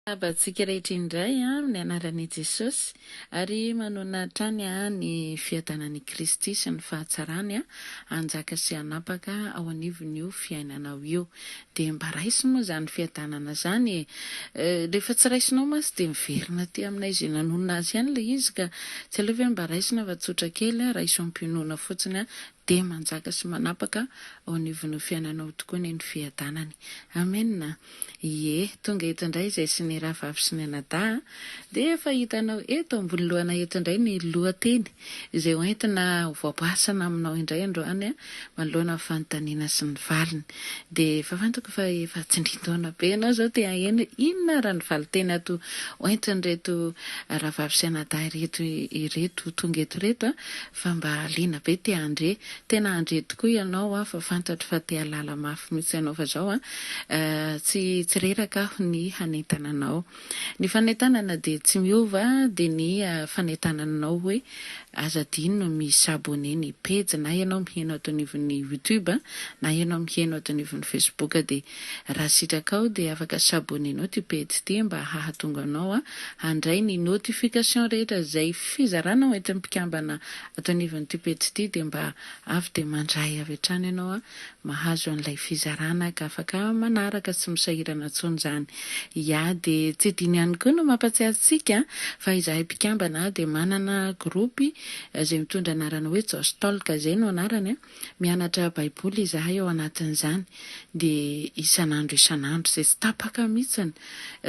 Miarahaba antsika rehetra indray amin'ny anaran'i Jesosy ary manonona hatrany ny fiadanan'i Kristy sy ny fahatsarany hanjaka sy hanapaka ao anivon'io fiainanao io. Dia mba raiso moa izany fiadanana izany e! Rehefa tsy raisinao mantsy dia miverina aty aminay izay nanonona azy ihany ilay izy ka! Tsy aleo ve mba raisina fa tsotra kely, raiso am-pinoana fotsiny dia manjaka sy manapaka ao anivon'ny fiainanao tokoa anie ny fiadanany. Amena. Ie, tonga eto indray izay sy ny rahavavy sy ny anadahy, dia efa hitanao eto ambony lohana eto indray ny lohateny izay ho entina ho voaboasana aminao indray androany manoloana ny fanontaniana sy ny valiny. Dia efa fantako fa efa tsindrin-taona be ianao izao te haheno inona ary ny valinteny ato ho entin'ireto rahavavy sy anadahy ireto ireto tonga eto ireto fa mba liana be te handre, tena handre tokoa ianao an, fa fantatro fa te hahalala mafy mihitsy ianao fa zao an, tsy tsy reraka aho ny hanentana anao. Ny fanentanana dia tsy miova dia ny fanentananao hoe aza adino mi s'abonner ny pejy na ianao miheno ato anivon'ny youtube na ianao miheno ato anivon'ny facebook dia Raha sitrakao dia afaka s'abonner nao ty pejy ty mba hahatonga anao handray ny notification rehetra zay fizarana ao entin'ny mpikambana ato anivon'ity pejy ty dia mba avy dia mandray avy hatrany ianao mahazo an'ilay fizarana ka afaka manaraka tsy misahirana intsony zany ya dia tsy adino ihany koa no mampatsiahy antsika fa izahay mpikambana dia manana groupe zay mitondra anarana hoe Jostalk zay no anarany Mianatra Baiboly izahay ao anatin'izany, dia isan'andro isan'andro, izay tsy tapaka mihitsiny,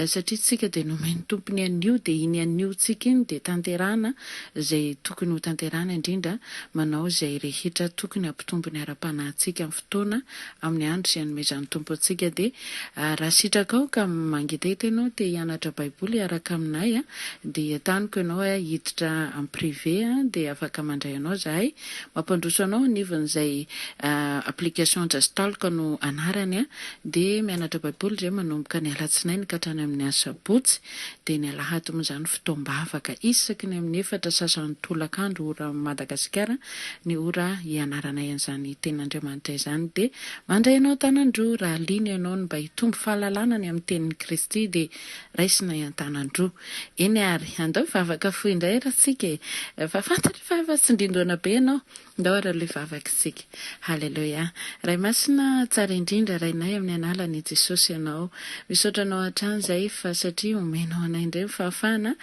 satria isika dia nomen'ny Tompo ny anio, dia iny aniontsika iny dia tanterahana izay tokony hotanterahana, indrindra manao izay rehetra tokony hampitombo ny ara-panahintsika amin'ny fotoana, amin'ny andro izay anomezan'ny Tompo antsika. Dia raha sitrakao ka mangetaheta ianao te hianatra Baiboly hiaraka aminay, dia entaniko ianao hiditra en privé, dia afaka mandray anao izahay, Mampandroso anao anivon izay application Just Talk no anarany a! Dia mianatra baiboly izay manomboka ny alatsinainy ka hatrany amin ny asabotsy, dia ny alahady moa izany fotoam-bavaka isaky ny amin ny efatra sasany tolakandro ora Madagasikara ny ora hianaranay an izany tenin Andriamanitra izany dia mandray anao an-tanan-droa raha liana ianao ny mba hitombo fahalalana ny amin ny tenin i Kristy dia raisinay an-tanan-droa. Eny ary, andao hivavaka fohy indray ary isika e! Fa fantatra fa efa tsindrin-doana be ianao. Andao ary aloha hivavaka isika. Haleloia. Ray Masina tsara indrindra, Rainay amin'ny Analan'i Jesosy Ianao. Misaotra Anao hatrany izahay fa satria omenao anay indray ny fahafahana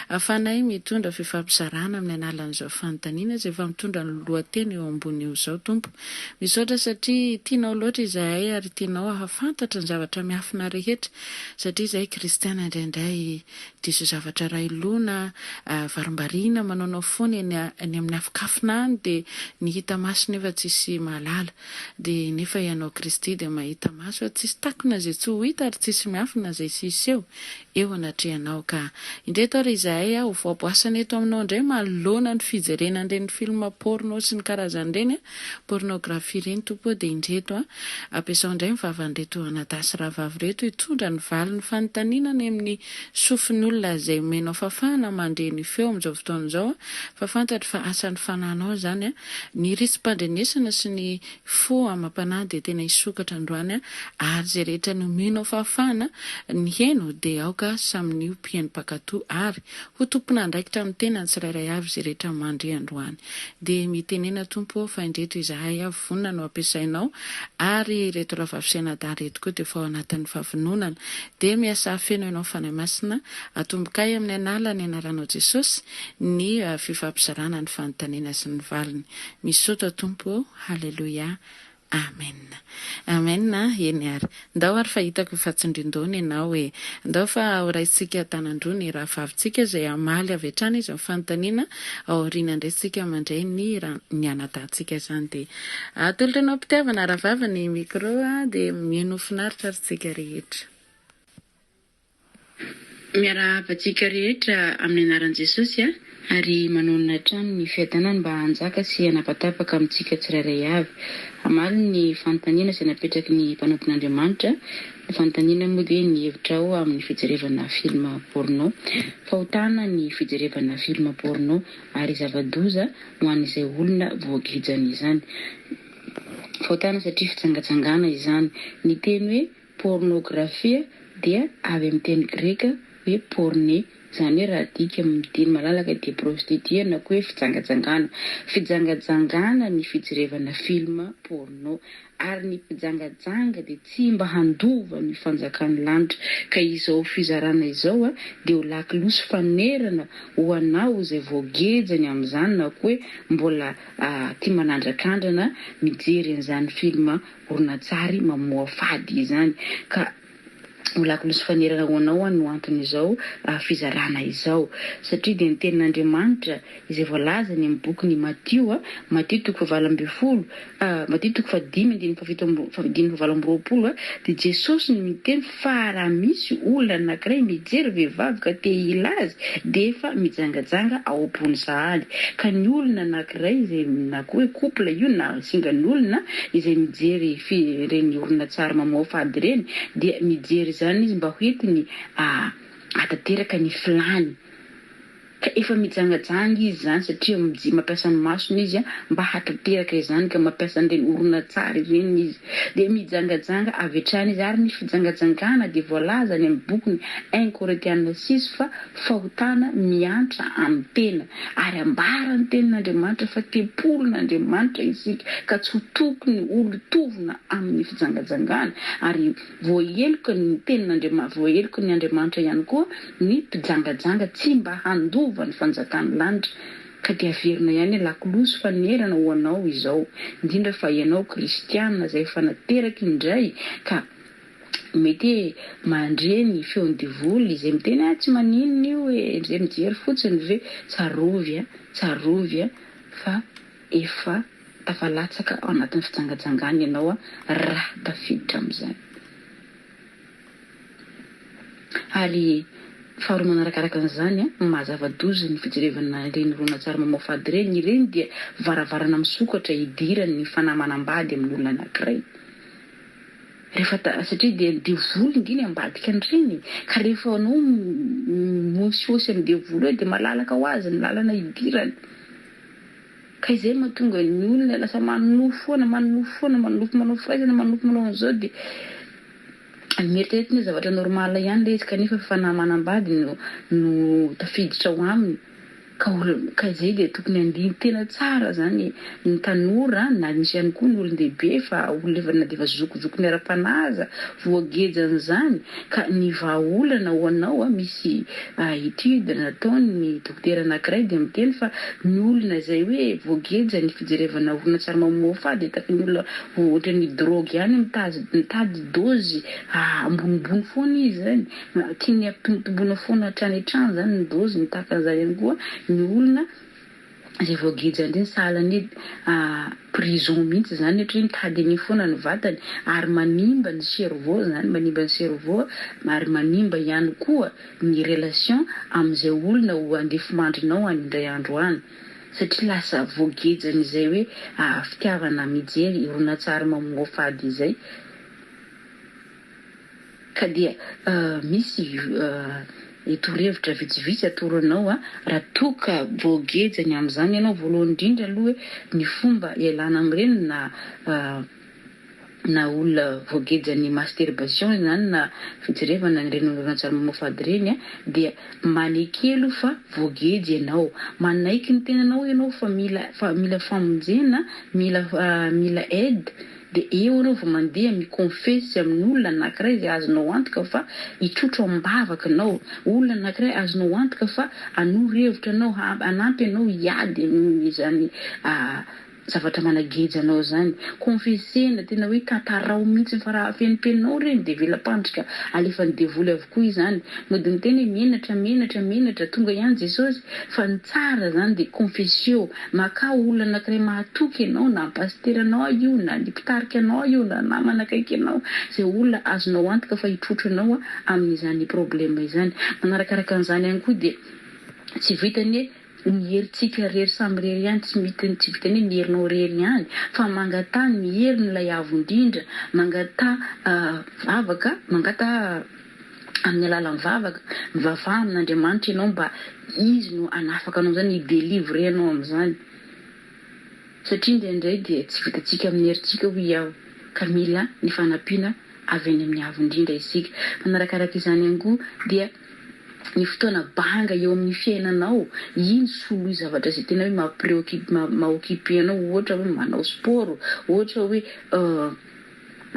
ahafahanay mitondra fifampizarana amin'ny Analan'izao fanontaniana izay efa mitondra ny lohateny eo ambony eo izao, Tompo. Misaotra satria Tianao loatra izahay ary Tianao hahafantatra ny zavatra miafina rehetra Satria izahay kristiana indraindray diso zavatra iray loha na varimbariana manaonao foana eny amin'ny afonkafona any dia ny hita maso nefa tsisy mahalala dia nefa ianao Kristy dia mahita maso ary tsisy takona izay tsy ho hita ary tsisy miafina izay tsy hiseho eo anatrehanao ka indreto ary izahay ho voaboasana eto aminao indray manoloana ny fijerena an'ireny film porno sy ny karazany ireny Pornographie ireny Tompo ô dia indreto an! ampiasao indray ny vavan'ireto anadahy sy rahavavy ireto hitondra ny valin'ny fanontaniana any amin'ny sofin'olona izay omenao fafana mandre ny feo amin'izao fotoana izao an! fa fantatro fa asan'ny fananao izany an! ny risim-pandrenesana sy ny fo amam-panahy dia tena hisokatra androany an! ary izay rehetra nomenao fafana ny heno dia aoka samy ny ho mpieno mpankatò ary ho tompon'andraikitra amin'ny tenany tsirairay avy izay rehetra mandre androany Dia mitenena Tompo ô fa indreto izahay avy vonona no hampiasainao ary ireto rahavavy sy anadahy ireto koa dia efa ao anatin'ny fahavononana dia miasà feno ianao Fanahy Masina atombokay amin'ny anàlan'ny anaranao Jesosy ny fifampizarana ny fanontaniana sy ny valiny misaotra Tompo ô haleloia Amen Amen a! Eny ary. Ndao ary fa hitako fa tsindrin-dohany ianao e! Ndao fa horaisintsika an-tanan-droa ny rahavavintsika izay hamaly avy hatrany izy ny fanontaniana ao aoriana indray isika mandray ny ny anadahintsika izany dia atolotra anao am-pitiavana rahavavy ny micro dia mihaino ho finaritra ary isika rehetra. Miarahaba antsika rehetra amin'ny anaran'i Jesosy ary manonona hatrany ny fiadanany mba hanjaka sy hanapatapaka amintsika tsirairay avy. Hamaly ny fanontaniana izay napetraky ny mpanompon'Andriamanitra, ny fanontaniana moa dia ny hevitrao amin'ny fijerevana film porno. Fahotana ny fijerevana film porno ary zava-doza ho an'izay olona voagijan'izany. Fahotana satria fijangajangana izany. Ny teny hoe. Pôrnôgrafia dia avy amin'ny teny greka hoe pôrne, izany hoe raha adika amin'ny teny malalaka dia prostituée na koa hoe fijangajangana. Fijangajangana ny fijerevana film pôrnô. Ary ny mpijangajanga dia tsy mba handova ny fanjakan'ny lanitra. Ka izao fizarana izao dia ho lakilosy fanonerana ho anao izay voageja ny amin'izany na koa hoe mbola tia manandrakandrana mijery an'izany film horonantsary mamoafady izany ka ho lakolosy fanerana ho anao ho'a no anton'izao fizarana izao satria dia ny tenin'Andriamanitra izay voalazany amin'ny bokin'i Matio, Matio toko fahavalo ambin'ny folo, Matio toko fahadimy andininy fahafito amby, dimy fahavalo amby roapolo dia Jesosy no miteny fa. Fa raha misy olona anankiray mijery vehivavy ka te hila azy, dia efa mijangajanga ao am-pony sahady. Ka ny olona anankiray izay, na koa hoe couple io na singan'olona, izay mijery ireny horonantsary mamoafo ady ireny, dia mijery izany izy mba hoentiny hahatanteraka ny filàny. Ka efa mijangajanga izy izany satria mji mampiasa ny masony izy mba hahatanteraka izany ka mampiasa an'ireny horonantsary ireny izy. Dia mijangajanga avy hatrany izy ary ny fijangajangana dia voalaza any amin'ny bokiny un Korintiana six fa fahotana miantra amin'ny tena. Ary ambara ny tenin'Andriamanitra fa tempolin'Andriamanitra isika ka tsy ho tokony holotovina amin'ny fijangajangana ary Voaheloka ny tenin'Andriamanitra, voaheloka ny Andriamanitra ihany koa ny mpijangajanga tsy mba handova ny fanjakan'ny lanitra, ka dia averina ihany alakolosy fanerana ho anao izao, indrindra fa ianao kristiana izay efa nateraka indray ka mety hoe mandre ny feon'ny devoly izay miteny ah tsy maninona io e, izay mijery fotsiny ve, tsarovy a, tsarovy a fa efa. Tafalatsaka ao anatin'ny fijangajangana ianao raha tafiditra amin'izany. Ary faharoa manarakaraka an'izany, mahazava-doza ny fijerevana ireny horonantsary mamoafady ireny, ireny dia varavarana misokatra hidiran'ny fanahy manambady amin'olona anankiray. Rehefa satria dia devoly indray ny ambadika an'ireny ka rehefa anao mihosihosy amin'ny devoly eo dia malalaka ho azy ny lalana hidirany. Ka izay no mahatonga ny olona lasa manonofy foana, manonofy foana, manonofy manao firaisana, manonofy manao an'izao dia mieritreritra ny hoe zavatra normal ihany ilay izy kanefa fanahy manambady no no tafiditra ao aminy ka olo, ka izay dia tokony handiny tena tsara izany ny tanora na misy ihany koa ny olon-dehibe fa olona efa na dia efa zokizokin'ny ara-panahy aza voagejan'izany, Ka ny vahaolana ho anao, misy étude nataon'ny dokotera anankiray dia miteny fa ny olona izay hoe voageja ny fijerevana horonantsary mamoafà dia tafian'ny olona ohatran'ny drogue ihany, mitady mitady dôzy ambonimbony foana izy izany, tiany hampitombotomboina foana hatrany hatrany izany ny dôziny, tahaka an'izany ihany koa ny olona Zay voageja ndray ny sahala anie a prison mihitsy zany satria mitady an'iny foana ny vatany ary manimba ny cerveau zany manimba ny cerveau ary manimba ihany koa ny relation amin'izay olona ho andefimandrinao any indray andro any satria lasa voagejan'izay hoe a fitiavana mijery horonantsary mamoafady izay. Ka dia misy torohevitra vitsivitsy atoro anao raha toa ka voageja ny amin'izany ianao. Voalohany indrindra aloha hoe ny fomba ialana amin'ireny na na olona voagejan'ny masturbation izany na fijerevana an'ireny horonantsary mamoafady ireny dia maneke aloha fa voageja ianao. Manaiky ny tenanao ianao fa mila fa mila famonjena, mila mila aide. Dia eo ianao vao mandeha mi-confesse amin'olona anankiray izay azonao antoka fa hitrotro am-bavaka anao, olona anankiray azonao antoka fa hanoro hevitra anao, hanampy anao hiady amin'izany zavatra manageja anao izany. Confesse-na, tena hoe tantarao mihitsy fa raha afenimpeninao ireny dia vela-pandrika alefan'ny devoly avokoa izany. Mody miteny hoe menatra, menatra, menatra, tonga ihany Jesosy. Fa ny tsara zany dia confessio, makà olona anankiray mahatoky anao, na ny pasitera anao io, na ny mpitarika anao io, na namana akaiky anao, izay olona azonao antoka fa hitrotro anao amin'izany problème izany. Manarakaraka an'izany ihany koa dia tsy vitan'ny hoe ny herintsika irery samy irery ihany, tsy mety, tsy vitan'ny hoe ny herinao irery ihany, fa mangataha ny herin'ilay Avo Indrindra, mangataha vavaka, mangataha. amin'ny alalan'ny vavaka, mivavaha amin'Andriamanitra ianao mba Izy no hanafaka anao amin'izany, hi-delivrer anao amin'izany. Satria indraindray dia tsy vitantsika amin'ny herintsika hoy aho, ka mila ny fanampiana avy any amin'ny Avo indrindra isika. Manarakaraka izany ihany koa dia ny fotoana banga eo amin'ny fiainanao, iny soloy zavatra izay tena hoe ma-preoccupe, ma-occuper anao, ohatra hoe manao sport, ohatra hoe.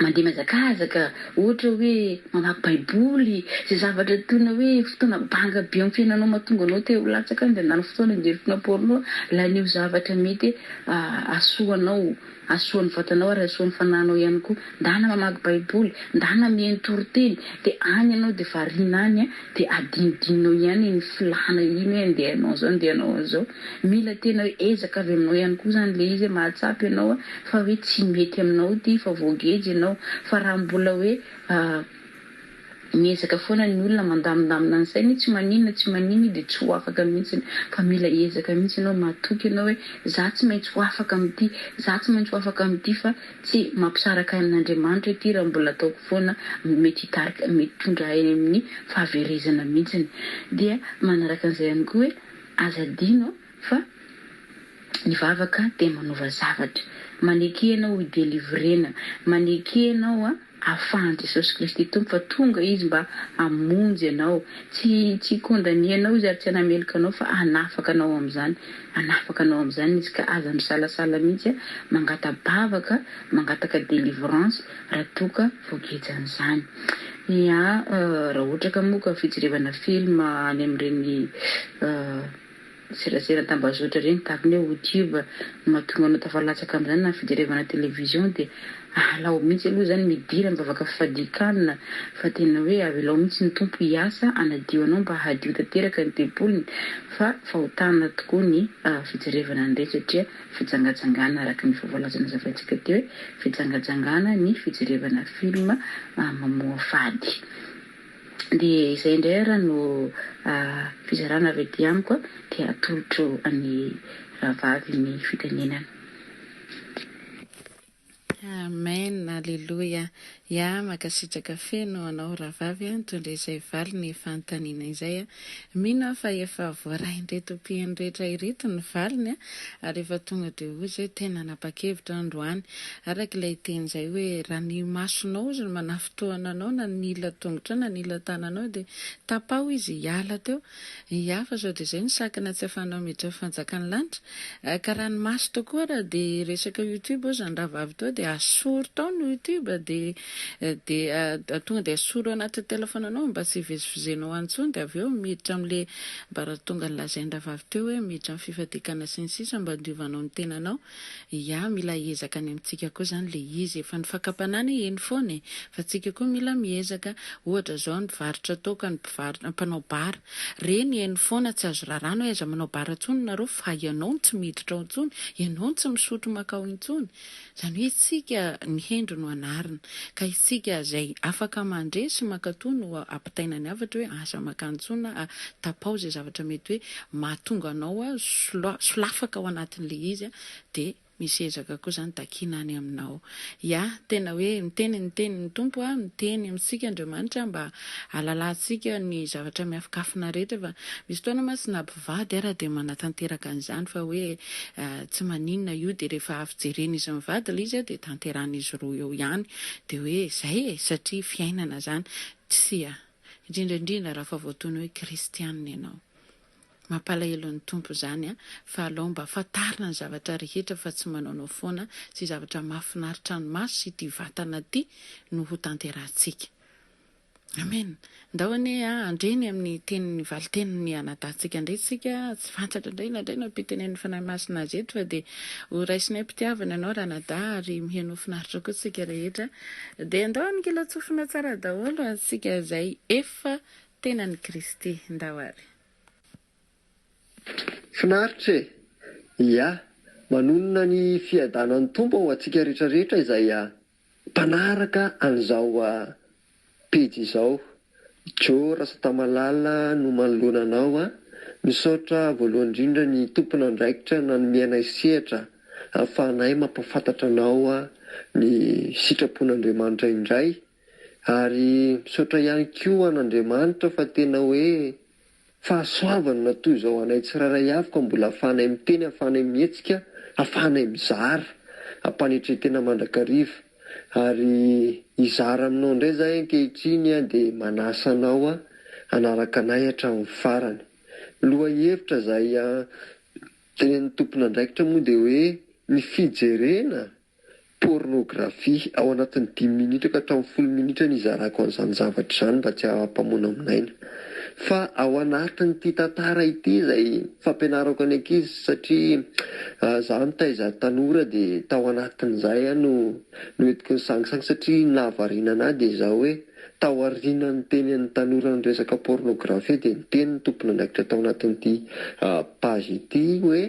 Mandeha mihazakazaka, ohatra hoe mamaky Baiboly, izay zavatra toy ny hoe fotoana banga be amin'ny fiainanao mahatonga anao te ho latsaka any dia handany fotoana hijery fona porno, laniho zavatra mety hahasoa anao, hahasoa ny vatanao ary hahasoa ny fanahinao ihany koa. Ndana mamaky Baiboly, ndana mihaino toriteny, dia any ianao dia variana any dia adinodinonao ihany iny filana iny hoe andeha hanao an'izao, andeha hanao an'izao. Mila tena ezaka avy aminao ihany koa zany le izy hoe mahatsapa ianao a fa hoe tsy mety aminao ty fa voageja ianao fa raha mbola hoe miezaka foana ny olona mandamindamina ny sainy tsy maninona tsy maninona de tsy ho afaka mihitsiny fa mila ezaka mihitsy ianao matoky ianao hoe za tsy maintsy ho afaka amty za tsy maintsy ho afaka amty fa tsy mampisaraka ahy amin'Andriamanitra ity raha mbola ataoko foana mety hitarika mety hitondra ahy amin'ny fahaverezana mihitsiny dia manaraka an'izay ihany koa hoe Aza adino fa ny vavaka dia manova zavatra. Maneke ianao ho delivrena. Maneke ianao ahafahan'i Jesosy Kristy Tompo fa tonga Izy mba hamonjy anao. Tsy tsy hi-condamner anao Izy ary tsy hanameloka anao fa hanafaka anao amin'izany. Hanafaka anao amin'izany Izy ka aza misalasala mihitsy mangata-bavaka, mangataka delivrance. raha toa ka voageja an'izany. Ia, raha ohatra ka moa ka fijerevana film any amin'ireny serasera an-tambazotra ireny tahaka ny hoe Youtube no mahatonga anao tafalatsaka amin'izany na fijerevana television dia ahalao mihitsy aloha izany midira mivavaka fifadian-kanina fa tena hoe avelao mihitsy ny Tompo hiasa hanadio anao mba hadio tanteraka ny tempoliny fa fahotana tokoa ny fijerevana an'ireny satria Fijangajangana araka ny efa voalaza nazavaintsika teo hoe fijangajangana ny fijerevana film mamoafady. Dia izay indray ary no fizarana avy aty amiko dia atolotro an'i rahavavy ny fitenenana. Amen Aleloia ya makasitraka feno anao rahavavy a nitondra izay valiny fanontaniana izay a mino aho fa efa voarain'ireto mpiheno rehetra ireto ny valiny a ary efa tonga dia hoy izay tena nanapa-kevitra aho androany araka ilay teny izay hoe raha ny masonao ozy no manafintohina anao na nila tongotrao na nila tananao dia tapaho izy hiala teo Ny hafa izao dia izay ny sakana tsy afahanao miditra fanjakan'ny lanitra. Ka raha ny maso tokoa ary dia resaka youtube ao izany rahavavy toa dia asoro tao ny youtube dia dia tonga dia asoro anatin'ny telefonanao mba tsy hivezivezenao any intsony dia avy eo miditra amin'ilay mba raha tonga nilazain'ny rahavavy teo hoe miditra amin'ny fifadiakana sy ny sisa mba handiovanao ny tenanao Ia mila hiezaka any amintsika koa zany le izy e, fa ny fakam-panahy anie eny foana e, fa tsika koa mila miezaka, ohatra zao ny varotra atao ka ny mpivarotra, mpanao bar, reny eny foana tsy azo rarana hoe aiza manao bar ntsony nareo fa ianao no tsy miditra ao ntsony, ianao no tsy misotro makao intsony, zany hoe isika ny hendry no anarina, ka isika zay afaka mandre sy mankato no ampitaina ny hafatra hoe aza makany ntsony na tapaho zay zavatra mety hoe mahatonga anao solafaka ao anatin'ilay izy dia misy ezaka koa izany takiana any aminao. Ya, tena hoe miteny ny tenin'ny Tompo a, miteny amintsika Andriamanitra mba hahalalantsika ny zavatra miafokafona rehetra fa misy fotoana mantsy na mpivady ara dia manatanteraka an'izany fa hoe tsy maninona io dia rehefa avy jeren'izy mivady ilay izy dia tanterahan'izy roa eo ihany dia hoe izay e, satria fiainana izany. Tsia. indrindra indrindra raha fa voatono hoe kristianina ianao. Mampalahelo ny Tompo izany an! fa alao mba fantarina ny zavatra rehetra fa tsy manaonao foana sy zavatra mahafinaritra ny maso sy ity vatana ity no ho tanterahantsika. Amen! Ndao anie an! handre ny amin'ny tenin'ny valitenin'ny anadahintsika indray isika, tsy fantatra indray na indray nampitenenin'ny Fanahy Masina azy eto fa dia ho raisinay am-pitiavana ianao ranadahy ary miheno ho finaritra koa isika rehetra. Dia andao ankilantsofina tsara daholo antsika izay efa tenan'i Kristy. Ndao ary. Finaritra e! Ia, manonona ny fiadanan'ny Tompo ho antsika rehetra rehetra izay mpanaraka an'izao. Pejy izao. Djo Rasatamalala no manoloana anao a! Misaotra voalohany indrindra ny tompon'andraikitra nanome anay sehatra ahafahanay mampahafantatra anao ny sitrapon'Andriamanitra indray ary misaotra ihany koa an'Andriamanitra fa tena hoe Fahasoavany matoa izao anay tsirairay avy ka mbola ahafahanay miteny, ahafahanay mihetsika, ahafahanay mizara. Am-panetren-tena mandrakariva. Ary hizara aminao indray izahay ankehitriny dia manasa anao hanaraka anay hatramin'ny farany. Lohahevitra izay tenenin'ny tompon'andraikitra moa dia hoe ny fijerena Pôrnôgrafia, ao anatin'ny dimy minitra ka hatramin'ny folo minitra no hizarako an'izany zavatra izany mba tsy hampamonamonaina. Fa ao anatin'ity tantara ity izay fampianarako ny ankizy satria izaho nitaiza tanora dia tao anatin'izay aho no noentiko nisangisangy satria ny nahavariana an'ahy dia izao hoe tao aorianan'ny tenin'ny tanora ny resaka pôrnôgrafia dia niteny ny tompon'andraikitra tao anatin'ity page ity hoe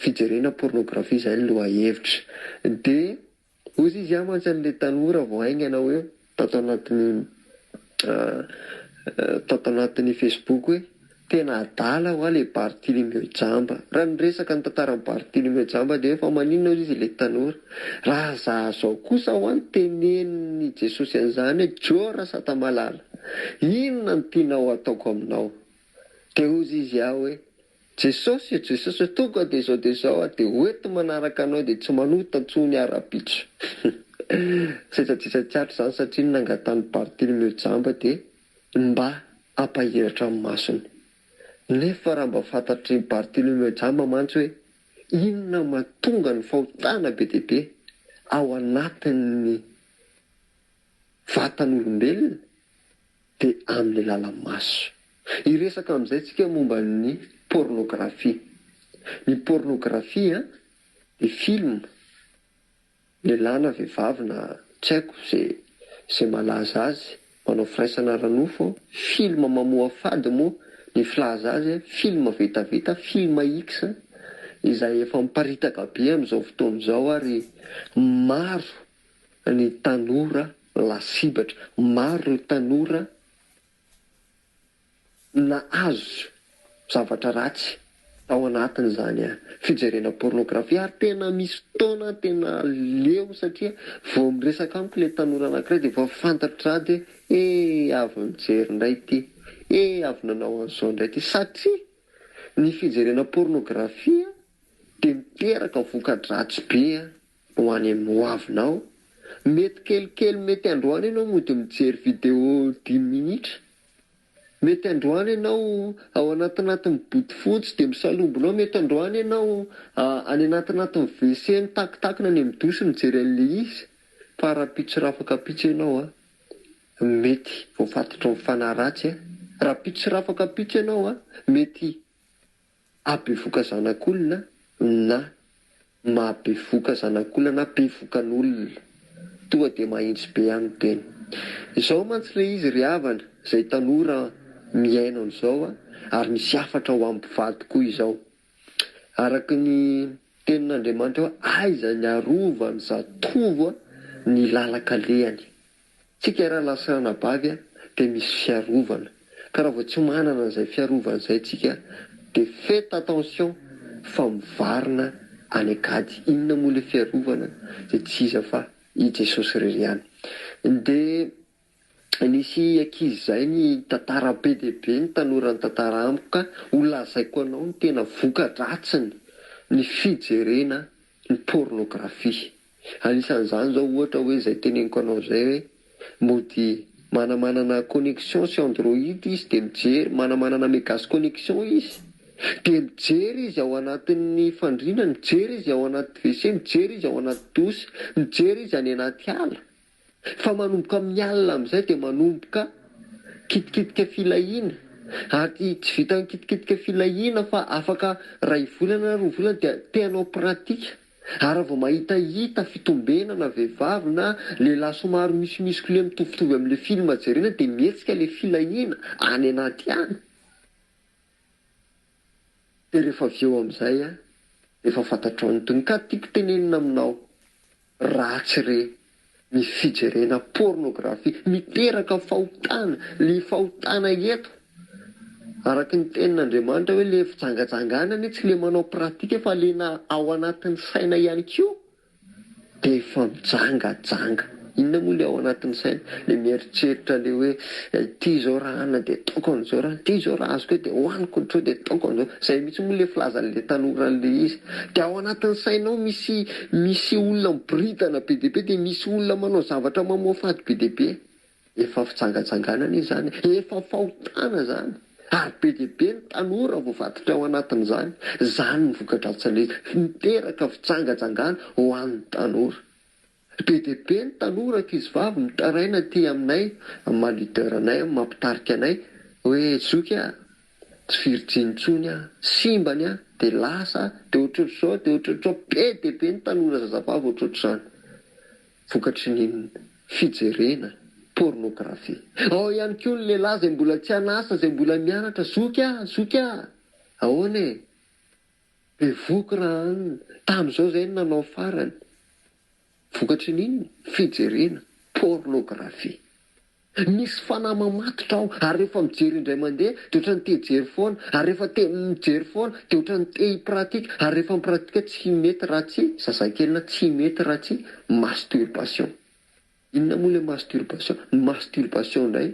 fijerena pornographie zay ny lohahevitra de ozy izy ah mantsy anle tanora vao haingana hoe tato anatiny tato anatiny facebook hoe tena adala hoa le barthilimeo jamba raha niresaka ny tantarany barthilimeo jamba de hoe fa maninona ozy izy le tanora raha za zao kosa hoa ny teneniny jesosy anzany hoe joo rasatamalala inona no tinao ataoko aminao de ozy izy ah hoe Jesosy e Jesosy tonga de zao de zao a de hoeto manaraka anao de tsy manota tsony ara bitro sesajesatsatra zany satria nangatany bartolomeo jamba de mba ampahiratra ny masony nefa raha mba fantatry bartolomeo jamba mantsy hoe inona matonga ny fahotana be dia be ao anatin'ny vatan'olombelona dia amin'ny lala-maso. Hiresaka amin'izay tsika momba ny pornografia. Ny pornografia dia film, lehilahy na vehivavy na tsy haiko izay malaza azy, manao firaisana ara-nofo, film mamoafady moa ny filaza azy, film vetaveta, film X, izay efa miparitaka be amin'izao fotoana izao ary maro ny tanora lasibatra. Maro ireo tanora nahazo zavatra ratsy tao anatin'izany fijerena pornografia ary tena misy fotoana tena leo satria vao miresaka amiko ilay tanora anankiray dia vao fantatr'iry za dia hoe eh! avy nijery indray ity, eh! avy nanao an'izao indray ity satria ny fijerena pornografia dia miteraka voka-dratsy be Ho any amin'ny ho avinao. Mety kelikely mety androany ianao mody mijery video dimy minitra. Mety androany ianao ao anatinatin'ny bodofotsy dia misalombonao mety androany ianao any anatinatin'ny WC mitakitakina any amin'ny douche mijery an'ilay izy fa rahampitso rafakapitso ianao a! mety voafatotry ny fanahy ratsy a! rahampitso rafakapitso ianao a! mety Abevoka zanak'olona na Mahabevoka zanak'olona na bevokan'olona. Toa dia mahintsy be any tena. Izao mantsy ilay izy ry havana, izay tanora mihaino an'izao a, ary misy hafatra ho an'ny mpivady koa izao. Araka ny tenin'Andriamanitra hoe aiza ny arovany zatovo ny lalan-kalehany. Tsika raha lasa anabavy a dia misy fiarovana ka raha vao tsy manana an'izay fiarovana izay tsika dia faites attention fa mivarina any an-kady inona moa ilay fiarovana dia tsy iza fa i Jesosy irery ihany dia nisy ankizy izay ny tantara be dia be ny tanora nitantara amiko ka ho lazaiko anao ny tena voka-dratsiny ny fijerena ny pornografia. Anisan'izany izao ohatra hoe izay teneniko anao izay hoe mody manamanana connexion sy android izy dia mijery, manamanana megas connexion izy dia mijery izy ao anatin'ny fandriana, mijery izy ao anaty WC, mijery izy ao anaty douche, mijery izy any anaty ala. Fa manomboka amin'ny alina amin'izay dia manomboka kitikitika filahiana ary tsy vitan'ny kitikitika filahiana fa afaka iray volana na roa volana dia te hanao pratika ary raha vao mahita hita fitombenana vehivavy na lehilahy somary misimisikolia mitovitovy amin'ilay film jerena dia mihetsika ilay filahiana any anaty any. Dia rehefa avy eo amin'izay an, efa fantatrao ny tohiny. Ka tiako tenenina aminao, ratsy re ny fijerena pornographie, miteraka fahotana, le fahotana eto araka ny tenin'Andriamanitra hoe le fijangajangana anie tsy le manao pratique fa le na ao anatin'ny saina ihany koa. Dia efa mijangajanga. Inona moa ilay ao anatin'ny saina? Ilay mieritreritra ilay hoe ity izao raha hanina dia ataoko an'izao, raha ity izao raha azoko hoe dia hohaniko ny tro dia ataoko an'izao. Izay mihitsy moa ilay filazan'ilay tanora an'ilay izy. Dia ao anatin'ny saina ao misy misy olona miboridana be dia be dia misy olona manao zavatra mamoafady be dia be. Efa fijangajangana izany, efa fahotana izany ary be dia be ny tanora voavadika ao anatin'izany. Izany ny vokadratsiny miteraka fijangajangana ho an'ny tanora. Be dia be ny tanora ankizivavy mitaraina aty aminay amin'ny maha leader anay, amin'ny maha mpitarika anay hoe zoky a! tsy virjiny intsony a! simbany a! dia lasa a! dia ohatrohatr'izao dia ohatrohatr'izao. Be dia be ny tanora zazavavy ohatrohatr'izany. Vokatry ny fijerena pornographie. Ao ihany koa ny lehilahy izay mbola tsy an'asa, izay mbola mianatra, zoky ah! zoky ah! Ahoana e! Be voky raha an! Tamin'izao izay no nanao farany. Vokatry ny inona? Fijerena pornographie. Misy fanahy mamatotra ao ary rehefa mijery indray mandeha dia ohatran'ny te hijery foana ary rehefa te mijery foana dia ohatran'ny te hi-pratique ary rehefa mi-pratique tsy hi-mety raha tsy, zazakely na tsy hi-mety raha tsy masturbation. Inona moa ilay masturbation? Ny masturbation indray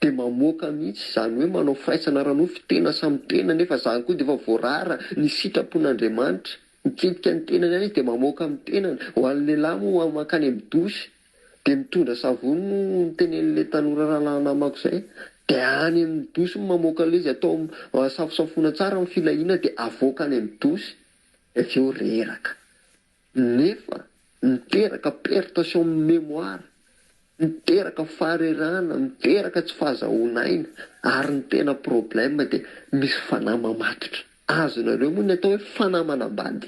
dia mamoaka mihitsy izany hoe manao firaisana ara-nofo tena samy tena nefa izany koa dia efa voarara ny sitrapon'Andriamanitra. Miketika ny tenany ihany izy dia mamoaka amin'ny tenany. Ho an'ny lehilahy moa mankany amin'ny douche. Dia mitondra savony no nitenenin'ilay tanora rahalahy namako izay. Dia any amin'ny dosy no mamoaka ilay izy, atao safosafoina tsara ny filahiana dia avoaka any amin'ny dosy. Dia avy eo reraka. Nefa miteraka perte sur mémoire, miteraka faharerahana, miteraka tsy fahazahoan'aina, ary ny tena problème dia misy fanahy mamatotra. Azonareo moa ny atao hoe fanahy manambady?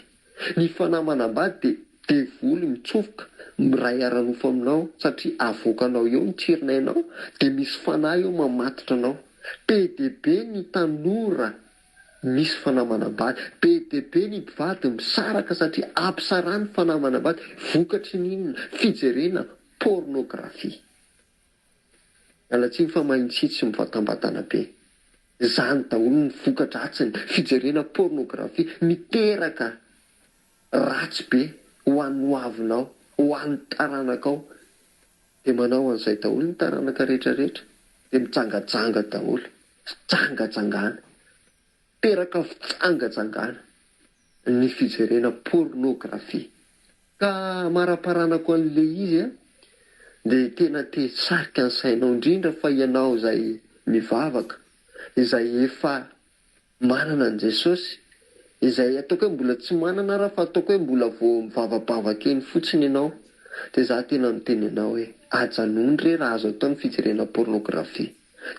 Ny fanahy manambady dia devoly mitsofoka miray ara-nofo aminao satria avoakanao eo ny tsirinainao dia misy fanahy eo mamatotra anao. Be dia be ny tanora misy fanahy manambady. Be dia be ny mpivady misaraka satria ampisarany fanahy manambady. Vokatry ny inona? Fijerena pornographie. Miala tsiny fa mahay mitsitsy mivatambatana be. Zany daholo ny voka-dratsiny fijerena pornographie miteraka ratsy be ho an'ny hoavinao, ho an'ny taranakao. De manao an'izay daholo ny taranaka rehetra rehetra. De mijangajanga daholo. Fijangajangana. Miteraka fijangajangana ny fijerena pornographie. Ka amaraparanako an'i le izy a, de tena te hisarika ny sainao indrindra fa ianao izay mivavaka, izay efa manana an'i Jesosy, izay ataoko hoe mbola tsy manana ara fa ataoko hoe mbola vao mivavabavaka eny fotsiny ianao, de za tena miteny anao hoe ajanony re raha azo atao ny fijerena pornographie.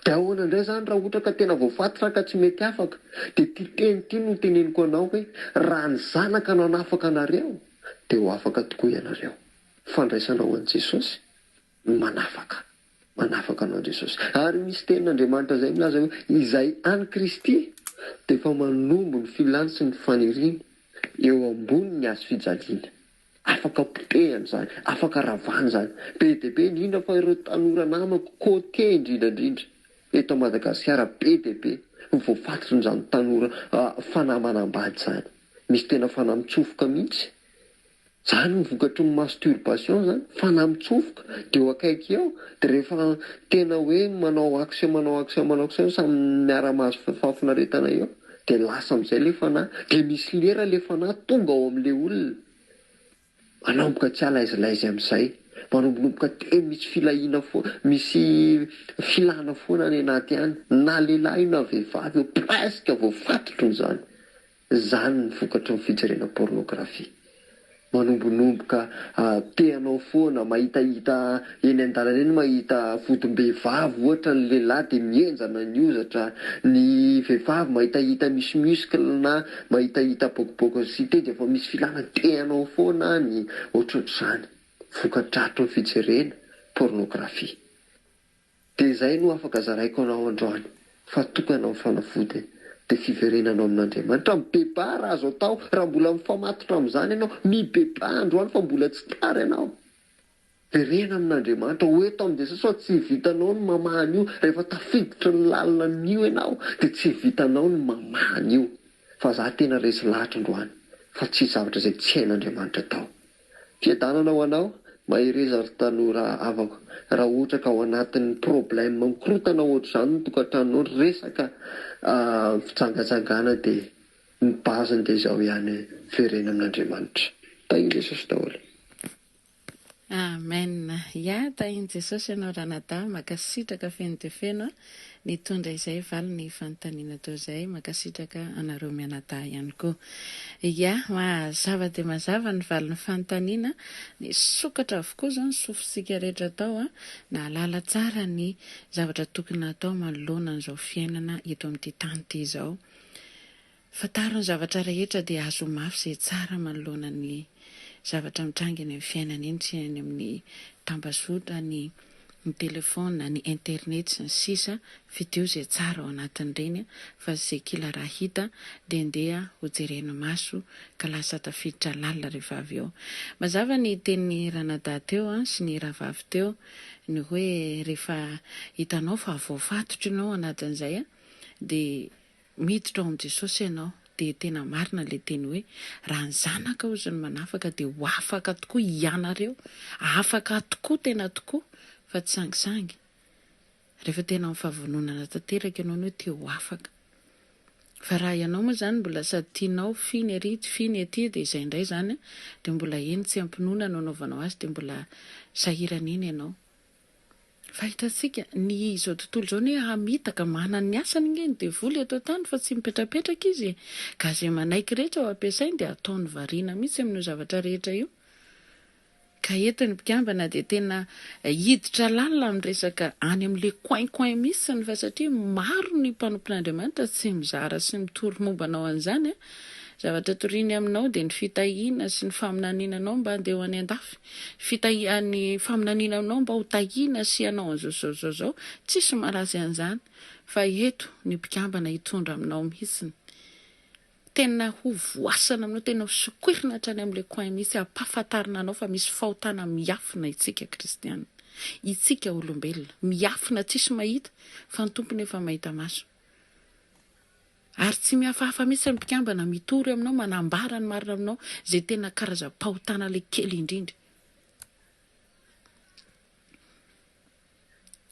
De ahoana indray zany raha ohatra ka tena voafatotra ka tsy mety afaka, de ty teny ty no teneniko anao hoe raha ny zanaka no hanafaka anareo de ho afaka tokoa ianareo. Fandraisana ho an'i Jesosy no manafaka. Manafaka anao Jesosy. Ary misy tenin'Andriamanitra izay milaza hoe izay any Kristy dia efa manombo ny filany sy ny faniriany eo ambony ny hazofijaliana. Afaka potehana izany, afaka ravana izany. Be dia be indrindra fa ireo tanora namako côtier indrindra indrindra eto Madagasikara be dia be no voafatotrin'izany tanora fanahy manambady izany. Misy tena fanahy mitsofoka mihitsy. Izany no vokatry ny masturbation izany, fanahy mitsofoka dia eo akaiky eo dia rehefa tena hoe manao action, manao action, manao action samy miara-mahazo fahafinaretana eo. Dia lasa amin'izay ilay fanahy. Dia misy lera ilay fanahy tonga ao amin'ilay olona. Manomboka tsy alaizilaizy amin'izay. Manombonomboka teny misy filahiana foana, misy filana foana any anaty any. Na lehilahy io na vehivavy io, presque voafatotro izany. Izany ny vokatry ny fijerena pornographie. Manombonomboka te hanao foana, mahitahita eny an-dalana eny mahita fotom-behivavy ohatra ny lehilahy dia mihenjana ny hozatra, ny vehivavy mahitahita misy muscle na mahitahita bokoboko sy site dia efa misy filana te hanao foana any, ohatrohatr'izany, vokadratry ny fijerena pornographie. Dia izay no afaka zaraiko anao androany fa tokana ny fanafody dia fiverenanao amin'Andriamanitra, mibebaha raha azo atao, raha mbola mifamatotra amin'izany ianao, mibebaha androany fa mbola tsy tara ianao, verena amin'Andriamanitra, ho eto amin'ny Jesosy fa tsy vitanao ny mamaha an'io, rehefa tafiditra ny lalinan'io ianao dia tsy vitanao ny mamaha an'io, fa za tena resy lahatra androany fa tsisy zavatra izay tsy hain'Andriamanitra atao. Fiadanana ho anao, mahereza ry tanora havako, raha ohatra ka ao anatin'ny problème mikorotana ohatr'izany ny tokantranonao, ny resaka fijangajangana dia ny base-ny dia izao ihany, verena amin'Andriamanitra. Tahin'i Jesosy daholo. Amen ya tahin'i Jesosy ianao ranadahy makasitraka feno dia feno a. Mitondra izay valy ny fanontaniana toa izay. Mankasitraka anareo mianadahy ihany koa. Ia, mazava dia mazava ny valin'ny fanontaniana. Nisokatra avokoa izao ny sofintsika rehetra tao. Nahalala tsara ny zavatra tokony hatao manoloana an'izao fiainana eto amin'ity tany ity izao. Fantaro ny zavatra rehetra dia azoho mafy izay tsara manoloana ny zavatra mitranga eny amin'ny fiainana eny sy eny amin'ny tambazotra, ny ny telefaona, ny internet sy ny sisa Fidio izay tsara ao anatin'ireny fa tsy izay kila raha hita dia ndeha ho jerena maso ka lasa tafiditra lalina rehefa avy eo. Mazava ny tenin'i Ranadahy teo sy ny Rahavavy teo ny hoe rehefa hitanao fa voafatotra ianao ao anatin'izay dia Miditra ao amin'i Jesosy ianao dia tena marina ilay teny hoe, raha ny Zanaka ozy no manafaka dia ho afaka tokoa hianareo, afaka tokoa tena tokoa fa tsy sangisangy, rehefa tena amin'ny fahavononana tanteraka ianao no te ho afaka. Fa raha ianao moa izany mbola sady tianao f'iny ery f'iny ety dia izay indray izany dia mbola eny tsy am-pinoana no anaovanao azy dia mbola sahirana eny ianao. Fahitantsika, ny izao tontolo izao anie hamitaka, manana ny asany ange ny devoly eto an-tany fa tsy mipetrapetraka izy e! Ka izay manaiky rehetra ho ampiasainy dia ataony variana mihitsy amin'io zavatra rehetra io. Ka eto ny mpikambana dia tena hiditra lalina amin'ny resaka any amin'ilay coin coin mihitsy ny fa satria maro ny mpanompon'Andriamanitra tsy mizara sy mitory momba anao an'izany a! Zavatra toriany aminao dia ny fitahiana sy ny faminaniana anao mba handeha ho any an-dafy. Fitahiana, ny faminaniana anao mba ho tahiana sy hanao an'izao sy izao sy izao izao. Tsisy maharatsy an'izany. Fa eto ny mpikambana hitondra aminao mihitsiny. Tena ho voasana aminao, tena ho sokoirina hatrany amin'ilay coin mihitsy, hampahafantarina anao fa misy fahotana miafina isika kristiana. Isika olombelona. Miafina tsisy mahita, fa ny Tompo nefa mahita maso. Ary tsy mihafahafa mihitsy ny mpikambana mitory aminao manambara ny marina aminao izay tena karazam-pahotana ilay kely indrindra.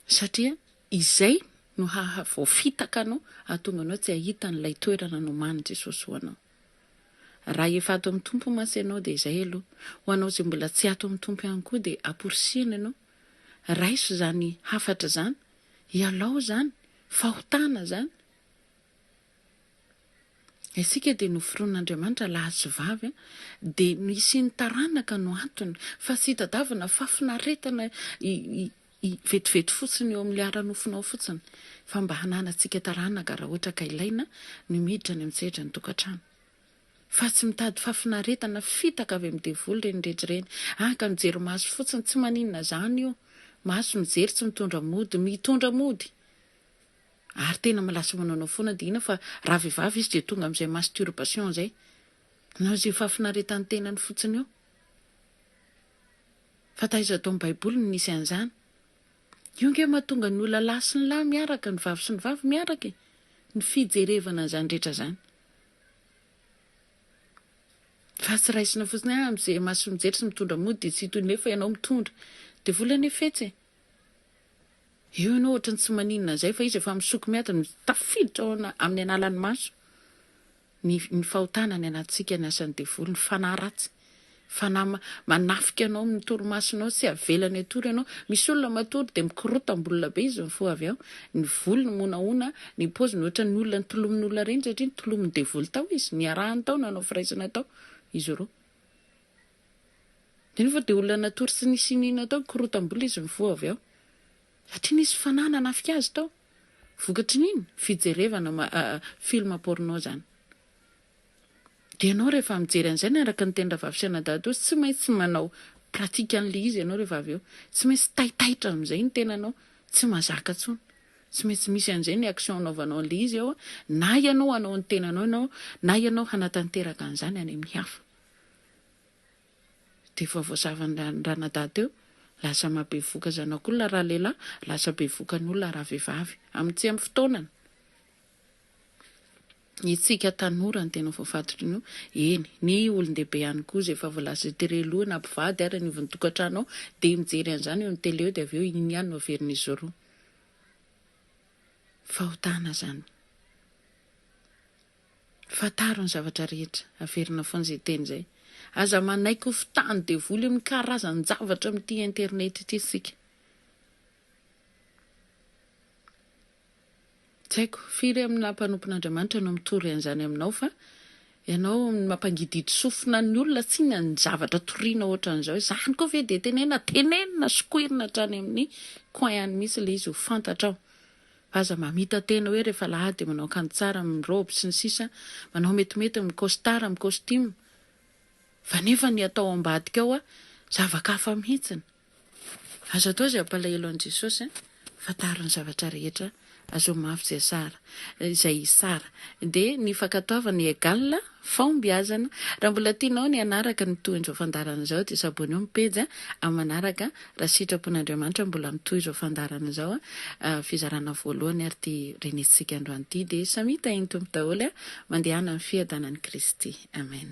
Satria izay no haha voafitaka anao hahatonga anao tsy hahita an'ilay toerana nomanin'i Jesosy ho anao. Raha efa ato amin'ny Tompo mantsy ianao dia izay aloha. Ho anao izay mbola tsy ato amin'ny Tompo ihany koa dia amporisihina ianao, raiso izany hafatra izany, ialao izany, fahotana izany, Isika dia noforonin'Andriamanitra lahy sy vavy, dia ny hisian'ny taranaka no antony, fa tsy hitadiavana fahafinaretana vetivety fotsiny eo amin'ilay ara-nofonao fotsiny, fa mba hananantsika taranaka raha ohatra ka ilaina ny miditra any amin'ny sehatra ny tokantrano. Fa tsy mitady fahafinaretana fitaka avy amin'ny devoly ireny rehetra ireny, haka mijery maso fotsiny, tsy maninona izany io, maso mijery tsy mitondra mody, mitondra mody. Ary tena malasa manao anao foana dia inona fa raha vehivavy izy dia tonga amin'izay masturbation izay. Manao izay fahafinaretan'ny tenany fotsiny eo. Fa taiza ato amin'ny baiboly no nisy an'izany. Io nge mahatonga ny olona lahy sy ny lahy miaraka, ny vavy sy ny vavy miaraka e. Ny fijerevana an'izany rehetra izany. Fa tsy raisina fotsiny ah, mijery maso sy mijery sy mitondra mody dia tsy hitohy nefa ianao mitondra. Dia vola any efetsy e. Eo ianao ohatry ny tsy maninona an'izay fa izy efa misoko miady no tafiditra ao amin'ny analan'ny maso ny ny fahotana any anatintsika ny asan'ny devoly, ny fanahy ratsy, fanahy manafika anao amin'ny torimasonao tsy avelany hatory ianao, misy olona matory dia mikorotam-bolona be izy mifoha avy ao, ny volony monahoana, ny paoziny ohatry ny olona nitolomin'olona reny satria nitolomin'ny devoly tao izy, niarahany tao, nanao firaisana tao izy roa. Nefa dia olona natory tsy nisy iniana tao, korotam-bola izy mifoha avy ao. Satria nisy fanahy nanafika azy tao. Vokatry ny inona? Fijerevana film porno izany. Dia ianao rehefa mijery an'izay na araka ny tenin-dRavafy sy anadahatoa, tsy maintsy manao pratique an'ilay izy ianao rehefa avy eo. Tsy maintsy taitaitra amin'izay ny tenanao, tsy mazaka intsony. Tsy maintsy misy an'izay ny action anaovanao an'ilay izy eo na ianao hanao ny tenanao ianao na ianao hanatanteraka an'izany any amin'ny hafa. Dia efa voazavan-dRanadahy teo, lasa mahabevoka zanak'olona raha lehilahy, lasa bevokan'olona raha vehivavy. Amin'ny tsy amin'ny fotoanany. Isika tanora no tena voafatotra an'io, eny, ny olon-dehibe ihany koa izay efa voalaza eo, tere loha na mpivady ary anivon'ny tokantrano ao dia mijery an'izany eo ny tele eo dia avy eo iny ihany no averin'izy roa. Fahotana izany. Fantaro ny zavatra rehetra, averina foana izay teny izay. Aza manaiky ho fitahan'ny devoly amin'ny karazan-javatra amin'ity internet ity isika. Tsy haiko firy amina mpanompon'Andriamanitra no mitory an'izany aminao fa ianao mampangidihidy sofina ny olona tsinona ny zavatra toriana ohatran'izao, izany koa ve dia tenenina, tenenina sokoirina hatrany amin'ny coin any mihitsy ilay izy ho fantatrao fa aza mamita tena hoe rehefa alahady dia manao akanjo tsara mirobe sy ny sisa, manao metimety mi-costard mi-costume fa nefa ny atao ambadika ao zava-kafa mihitsiny. Aza atao izay hampalahelo an'i Jesosy an! Fantaro ny zavatra rehetra, azao mafy izay sara, izay sara. Dia ny fankatoavana egal fahombiazana. Raha mbola tianao ny hanaraka ny tohin'izao fandaharana izao dia s'abonner ny pejy amin'ny manaraka raha sitrapon'Andriamanitra mbola mitohy izao fandaharana izao fizarana voalohany ary ity renesintsika androany ity dia samia tahin'ny Tompo daholo mandehana amin'ny fiadanan'i Kristy. Amen.